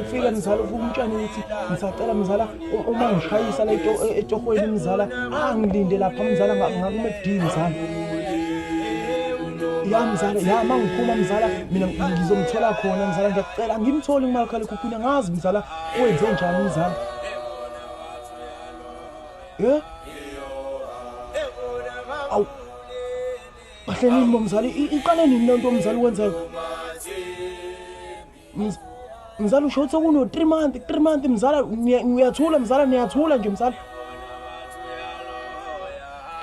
ufike mzala umtshana ukuthi ngisacela mzala uma ngishayisa la etohweni mzala angilinde lapha mzala ngakume kudini mzala ya mzala ya uma ngiphuma mzala mina ngizomthola khona mzala ngiyakucela ngimthole kumakhalekhukhwini angazi mzala wenze njani mzala ye awu kahle nini bomzali iqale nini lento mzali wenzayo mzala usho ukuthi kuno 3 month 3 month mzala ngiyathula mzala niyathula nje mzala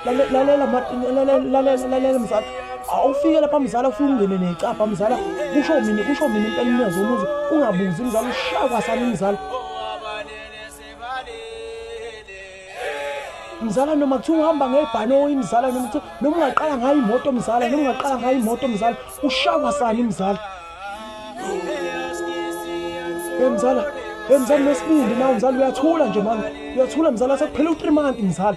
lalela lalela lalela lalela mzala awufike lapha mzala ufike ungene necapha mzala kusho mina kusho mina impela umnyazi womuzi ungabuzi mzala ushaya kwasani mzala mzala noma kuthiwa uhamba ngebhanoyi mzala noma kuthiwa noma ungaqala ngayo imoto mzala noma ungaqala ngayo imoto mzala ushawa sani mzala hey mzala hey mzala nesibindi nawe mzala uyathula nje manje uyathula mzala sekuphela u3 month mzala